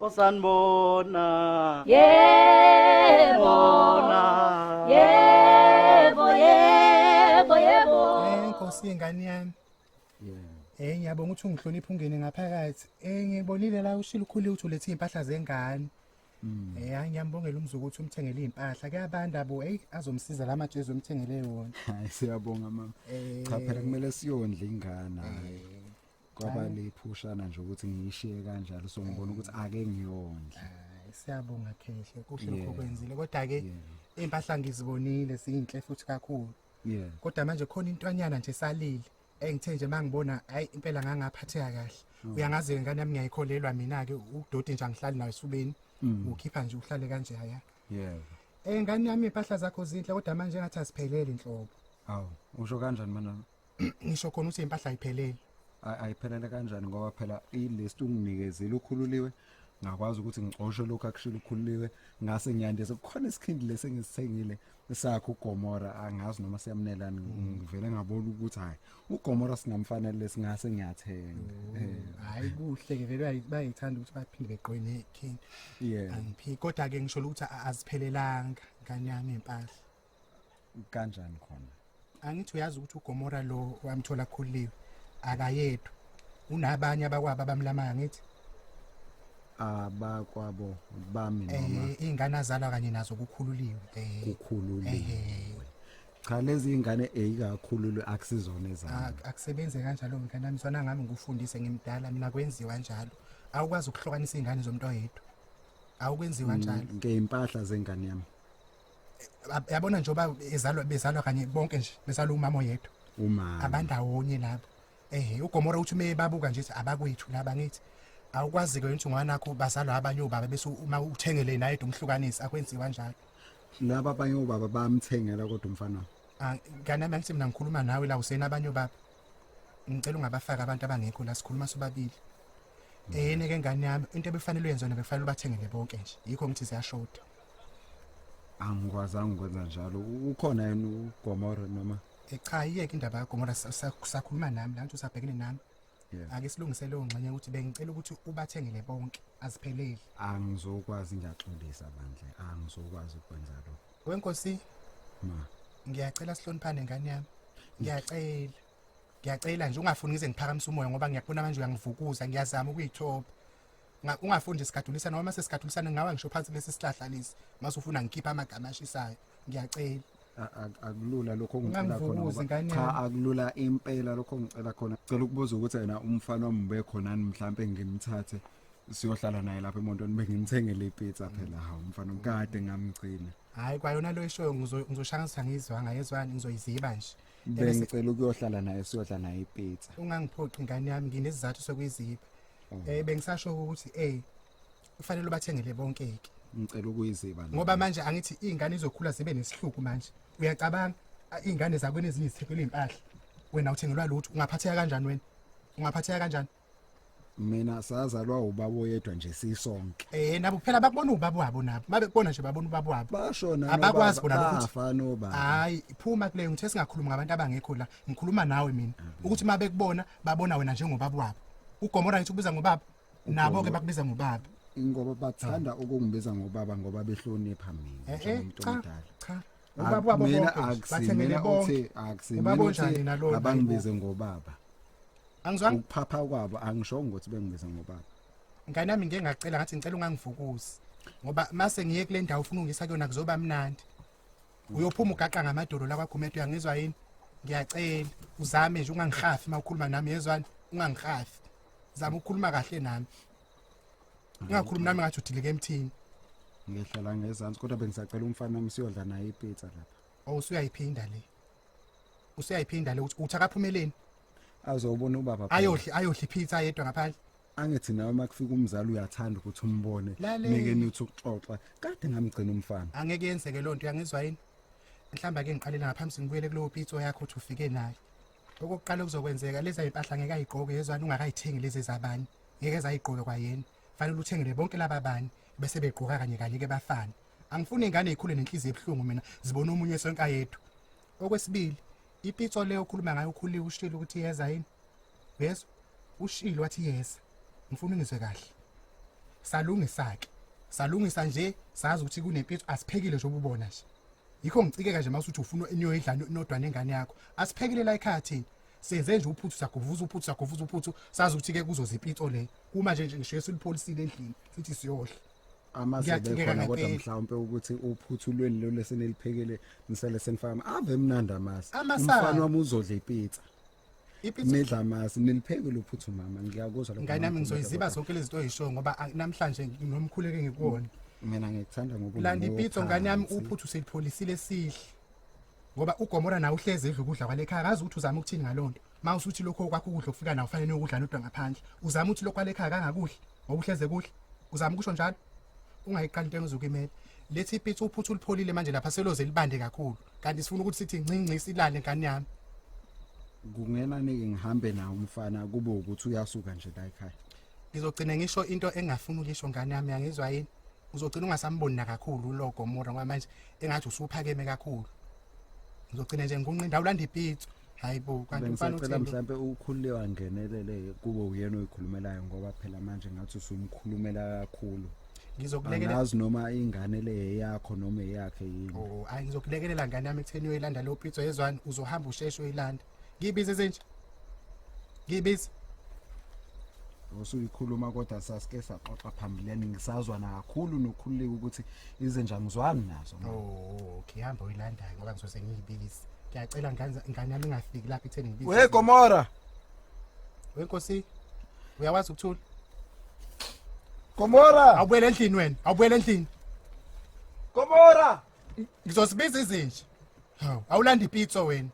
osanibona yebo bona yebo yebo yebo Eh, Nkosi ingane yami. Eh ngiyabonga ukuthi ungihlonipha ungene ngaphakathi. Eh ngibonile la ushilo ukhulile ukuthi ulethe impahla zengane. Eh hayi ngiyambongela umzuku ukuthi umthengele impahla. Kuyabanda bo hey azomsiza la majezi umthengele wona. hayi siyabonga mama Eh. cha phela kumele siyondle ingane hayi kwaba liphushana nje ukuthi ngiyishiye kanjalo so ngibona ukuthi ake ngiyondle siyabonga khehla kuhle lokho kwenzile kodwa ke impahla ngizibonile zinhle futhi kakhulu yeah kodwa manje khona intwanyana nje salile engithe nje mangibona hayi impela ngangaphatheka kahle mm. uyangazi ngane yami ngiyayikholelwa mina ke udoti nje angihlali nayo esubeni mm. ukhipha nje uhlale kanje haya yeah eh ngane yami impahla zakho zinhle kodwa manje ngathi asiphelele inhlobo awu usho kanjani manami ngisho khona ukuthi impahla ayiphelele Ay- ayiphelele kanjani ngoba phela ilist unginikezile ukhululiwe ngakwazi ukuthi ngixoshe lokhu akushilo ukhululiwe ngase ngiyandise kukhona isikhindi lesi engisithengile sakho ugomora angazi noma siyamnelani ngivele ngabona ukuthi hhayi ugomora singamfanele lesingase ngiyathenga Eh, hayi kuhle ke vele bayi- bayithanda ukuthi baphinde beqoye nekhini yeah angiphiki kodwa ke ngisho ukuthi a- aziphelelanga ngane yami impahla kanjani khona angithi uyazi ukuthi ugomora lo wamthola khuliwe akayedwa unabanye abakwabo abamlamayo ngithi abakwabo bami eh, noma eh ingane azalwa kanye nazo kukhululiwe eh kukhululiwe eh, cha lezi ingane eyikakhululwe akusizona ezami akusebenze kanjalo ngane nami sona ngami ngikufundise ngimdala mina kwenziwa njalo awukwazi ukuhlukanisa izingane zomuntu oyedwa awukwenziwa mm, njalo ngeimpahla zengane yami yabona nje oba ezalwa bezalwa kanye bonke nje bezalwa umama oyedwa umama abandawonye labo ehe ugomora uthi ume babuka nje abakwethu laba ngithi awukwazi-ke ukuthi ungwanakho bazalwa abanye obaba bese uma uthengele naye de umhlukanisi akwenziwa njalo laba abanye obaba bamthengela kodwa umfana ah, kanti ami angithi mina ngikhuluma nawe la usena abanye obaba ngicela ungabafaki abantu abangekho la sikhuluma sobabili mm. eyene ke ngane yami into ebefanele uyenze yona bekufanele ubathengele bonke nje yikho ngithi ziyashoda angikwazanga ukwenza njalo ukhona yena ugomora noma Eh, cha yiyeke indaba kagomora sa- sa- sakhuluma nami la nje usabhekene nami Yeah. ake silungise leyo ngxenye ukuthi bengicela ukuthi ubathengele bonke azipheleli angizokwazi ngiyaxolisa bandle angizokwazi ukwenza lokho wenkosi ma ngiyacela sihloniphane ngane yami ngiyacela ngiyacela nje ungafuni ngize ngiphakamise umoya ngoba ngiyakubona manje uyangivukuza ngiyazama ukuyithoba Nga- ungafundi sigadulisa noma sesigadulisana ngawa ngisho phansi lesi sihlahla lesi mase ufuna ngikhiphe amagama ashisayo ngiyacela A- a- akulula lokho ongicela khona Ungangivukuzi, ngoba- ngane cha yami. akulula impela lokho ongicela khona cela ukubuza ukuthi yena umfana wami ube khonani mhlampe ngimthathe siyohlala naye lapha emontweni bengimthengele ipizza phela hawu mfana wami kade ngamgcina hayi kwayona lo eshoyo ngizo- ngizoshaya ngithi angiyizwanga yezwani ngizoyiziba nje Ebese- bengicela ukuyohlala naye siyohlala naye ipizza ungangiphoqi ngane yami nginesizathu sokuyiziba Mm. Eh bengisasho ukuthi eh kufanele ubathengele bonke ke. Ngicela ukuyiziba. Ngoba manje angithi izingane izokhula zibe nesihluku manje. Uyacabanga izingane zakwena ezinye izithekela impahla. Wena uthengelwa lutho ungaphatheka kanjani wena? Ungaphatheka kanjani? mina sazalwa ubaba oyedwa nje sisonke eh nabo kuphela bakubona ubaba wabo nabo babekubona nje babona ubaba wabo bashona abakwazi bona ukuthi afana obaba hayi phuma kule ngithe singakhuluma ngabantu abangekho la ngikhuluma nawe mina ukuthi uma bekubona babona wena njengobaba wabo ugomora ngithi ukubiza ngobaba nabo ke bakubiza ngobaba ingoba bathanda ukungibiza ngobaba ngoba behlonipha mina Eh, eh, njengomuntu cha, omdala cha. Ak- Ubaba wabo mina bonke, akusi- bathembele mina bonke. uthi akusi- Ubaba mina uthi onjani nalona, abangibize ngobaba angizwanga ukuphapha kwabo angishongo ukuthi bengibize ngobaba ngane nami ngeke ngacela ngathi ngicela ungangivukuzi ngoba mase ngiye kule ndawo ufuna ungisa kuyona kuzoba mnandi uyophuma ugaqa ngamadolo la kwaGumede uyangizwa yini ngiyacela uzame nje ungangihafi uma ukhuluma nami yezwani ungangihafi zama ukukhuluma kahle nami ungakhulumi nami ngathi udileke emthini ngihlala ngezansi kodwa bengisacela umfana wami siyodla naye ipizza lapha oh usuyayiphinda le usuyayiphinda le uthi akaphumeleni azobona ubaba ayodli ayodli pizza yedwa ngaphandle angithi nawe uma kufika umzali uyathanda ukuthi umbone Lale. nike nithi ukuxoxa kade ngamgcina umfana angeke yenzeke loo nto uyangizwa yini mhlawumbe ake ngiqalele ngaphambi singibuyele kulowo pitso yakho ukuthi ufike naye okokuqala okuzokwenzeka lezi ayimpahla ngeke ayigqoke yezwani ungakayithengi lezi zabani ngeke zayigqoke kwayena fanele uthengele bonke laba bani bese begqoka kanye kanye ke bafane angifuni ingane ikhule nenhliziyo ebuhlungu mina zibona omunye sonke ayedwa okwesibili ipitso leyo okhuluma ngayo ukhuliwe ushilo ukuthi yeza yini yezwa ushilo wathi yeza ngifuna ungizwe kahle salungisake salungisa nje sazi ukuthi kunempitso asiphekile nje ububona nje yikho ngicikeka nje mase uthi ufuna inoyidla nodwa nengane yakho asiphekile la ekhaya thina senze nje uphuthu sagovuza uphuthu sagovuza uphuthu sazi ukuthi ke kuzoza ipitso le uma nje ngisho silipholisile endlini sithi siyodla amazebe khona kodwa mhlawumbe ukuthi uphuthulweni lo leseneliphekele nisele senifaka ave mnandi amasi umfana wami uzodla ipizza nidla amasi nilipheke lo phuthu mama ngiyakuzwa lokho ngane nami ngizoyiziba zonke lezi zinto oyishoyo ngoba namhlanje nginomkhuleke ngikuwona mina ngikuthanda ngokuba landa ipizza ngane yami uphuthu selipholisile sihle ngoba ugomora nawe uhlezi edla ukudla kwalekhaya akazi ukuthi uzama ukuthini ngalonto Uma usuthi lokho okwakho ukudla okufika nawo kufanele ukudla nodwa ngaphandle. Uzama ukuthi lokho kwalekhaya kangakudli ngoba uhleze kuhle. Uzama ukusho njalo. Ungayiqali into engizokimela. Lethi ipitsi uphuthu ulipholile manje lapha seloze libande kakhulu. Kanti sifuna ukuthi sithi ncinci silale ngane yami. Kungena nike ngihambe nawo umfana kube ukuthi uyasuka nje la ekhaya. Ngizogcina ngisho into engafuni ukuyisho ngane yami yangizwa yini? Uzogcina ungasamboni nakakhulu ulogo mora ngoba manje engathi usuphakeme kakhulu. ngizogcina nje ngikunqinda awulanda ipitso hayi bo kanti mfana uthini mhlambe ukhulule wangenelele kubo uyena oyikhulumelayo ngoba phela manje ngathi usumkhulumela kakhulu ngizokulekelela ngazi noma ingane le yakho noma eyakhe yini oh ayi ngizokulekelela ngane yami ekutheni uyoyilanda lo pizza yezwani uzohamba usheshe uyilanda Ngibize senje. Ngibize. usuyikhuluma kodwa sasike saxoxa phambilini ngisazwana kakhulu nokhululeka ukuthi izinja ngizwani nazo mama. Oh, okay, hamba uyilandayo ngoba ngizose ngiyibize. Ngiyacela nganza- ngane yami ingafiki lapha itheni ngibize. we gomora Wenkosi. Uyakwazi ukuthula? gomora Awubuyele endlini wena. Awubuyele endlini. gomora Ngizosibiza izinja. Hawu, awulanda ipizza wena.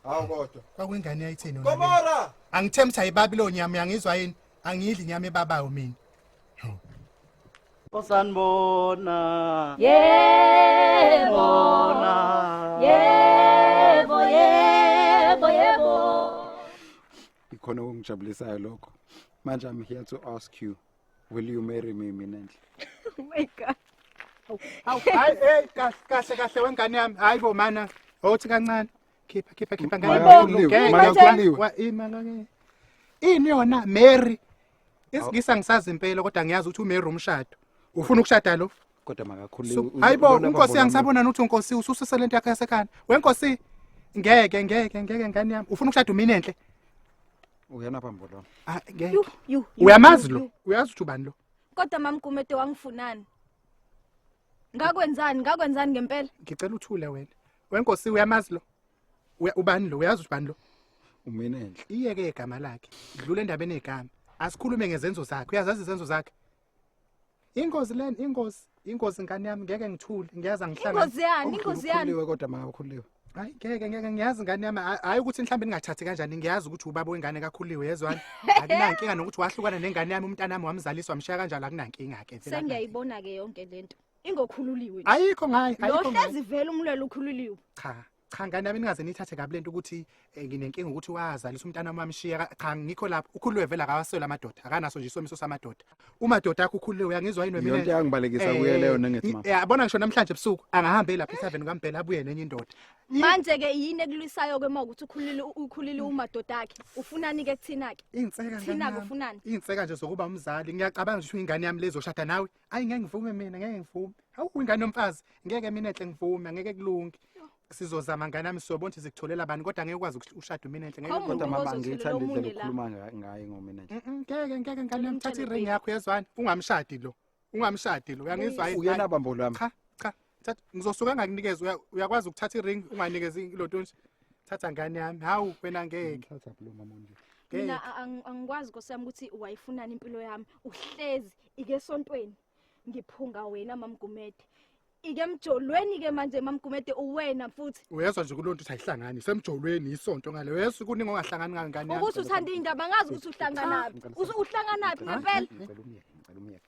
Hawu kodwa. Kwakuyingane yayithini wena? Gomora! Angithembi sayibabi lo nyama yangizwa yini? Angiyidli nyama ebabayo mina. Osanbona. Yebo. Yebo, yebo, yebo. Ikhona okungijabulisayo lokho. Manje I'm here to ask you. Will you marry me mina nje? Oh my god. Hawu hayi hey kahle kahle kahle wengane yami. Hayi bo mana. Awuthi kancane. Khipha khipha khipha Maya ngane. Hayibo, kuliwe, Ngeke, Maya ngeke, kuliwe. wa- ini Maya ngeke. Ini yona Mary. Isingisa ngisazi impela kodwa ngiyazi ukuthi uMary umshado. Ufuna ukushada lo? Kodwa makakhulile. So, uze- hayibo ubona unkosi babona angisabona nuthi unkosi ususise lento yakhe yasekhanda wenkosi ngeke ngeke ngeke ngane yami ufuna ukushada umini enhle uyena apha mbolo Ah, Yu, ngeke. yu, yu, uyamazi yu, lo yu. uyazi ukuthi ubani lo kodwa mamgumede wangifunani ngakwenzani ngakwenzani ngempela ngicela uthule wena wenkosi uyamazi lo Uya- ubani lo uyazi ukuthi ubani lo umina enhle iyeke igama lakhe dlula endabeni egama asikhulume ngezenzo zakhe uyazazi izenzo zakhe Ingozi len ingozi ingozi ngane yami ngeke ngithule ngiyaza ngihlanga Ingozi yani, ingozi yani. Ukhuliwe kodwa maka ukhuliwe. Hayi ngeke ngeke ngiyazi ngane yami hayi- hayi ukuthi mhlawumbe ningathathi kanjani ngiyazi ukuthi ubaba wengane kakhuliwe yezwani akunankinga nokuthi wahlukana nengane yami umntana wami wamzaliswa mshiya kanjalo akunankinga ke vele Sengiyayibona ke yonke lento. Ingokhululiwe. akunankinga. ayikho ngayi ayikho ngayi Lohlezi vele umlwelo ukhululiwe. cha cha ngane yami ningaze nithathe kabi lento ukuthi eh, nginenkinga ukuthi wazalisa umntana wami amshiya Ka- cha ngikho lapho ukhuluwe vele akawaswela amadoda akanaso nje isomiso samadoda umadoda akho ukhuluwe uyangizwa yini wemina Yonke yangibalekisa kuye leyo nengithi ma. yabona ngisho namhlanje ebusuku angahambe lapha ethaveni kaMbhele abuye nenye indoda manje ke yini ekulwisayo ke uma ukuthi ukhulile ukhulile umadoda akhe ufunani ke kuthina ke inseka Thina-ke ufunani? inseka nje zokuba umzali ngiyacabanga nje ukuthi ingane yami lezoshada nawe ayi ngeke ngivume mina ngeke ngivume hawu ingane yomfazi ngeke mina enhle ngivume angeke kulunge sizozama ngane yami siyobona ukuthi sikutholela bani kodwa ngeke ukwazi ukuthi ushade mina enhle ngeke Awu, kodwa mama Umuntu angiyithandi ozotholela indlela omunye la. okhuluma nga- ngayo ngomina nje Mm-mm, ngeke ngeke ngane yami thatha iring yakho yezwani ungamshadi lo ungamshadi lo uyangizwa yini? uyena bambolo wami cha cha thatha ngizosuka ngakunikeza uya- uyakwazi ukuthatha iring unganikezi ilotonshi thatha ngane yami hawu wena ngeke Ngithatha phela umama onje. ngeke mina a- ang- angikwazi nkosi yami ukuthi wayifunani impilo yami uhlezi ike esontweni ngiphunga wena mamgumede ike emjolweni ke manje mamgumede uwena futhi uyezwa nje kulonto ukuthi ayihlangani isemjolweni isonto ngale uyezwa kuningi ongahlangani ngani ngani yami. ukuthi uthanda iy'ndaba ngazi ukuthi uhlanganaphi Ngicela Usu- uhlanganaphi ngempela Ngicela umyeke, ngicela umyeke.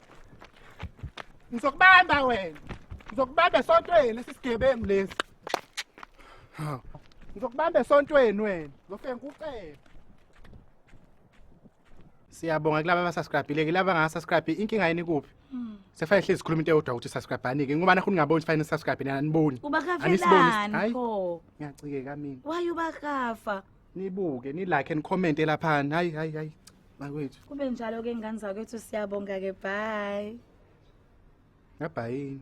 ngizokubamba wena ngizokubamba esontweni lesi sigebengu lesi ngizokubamba esontweni wena ngizofike ngikucebe siyabonga kulaba abasubscribile ke laba ngasubscribe inkinga yini kuphi hmm. sefane hlezi sikhuluma into eyodwa ukuthi subscribe ani ke ngoba nakho ningaboni sifane subscribe nina aniboni aniboni pho ngiyacike kamina waye ubakafa nibuke ni like and comment elaphana hayi hayi hayi bakwethu kube njalo ke ngane zakwethu siyabonga ke bye ngabhayini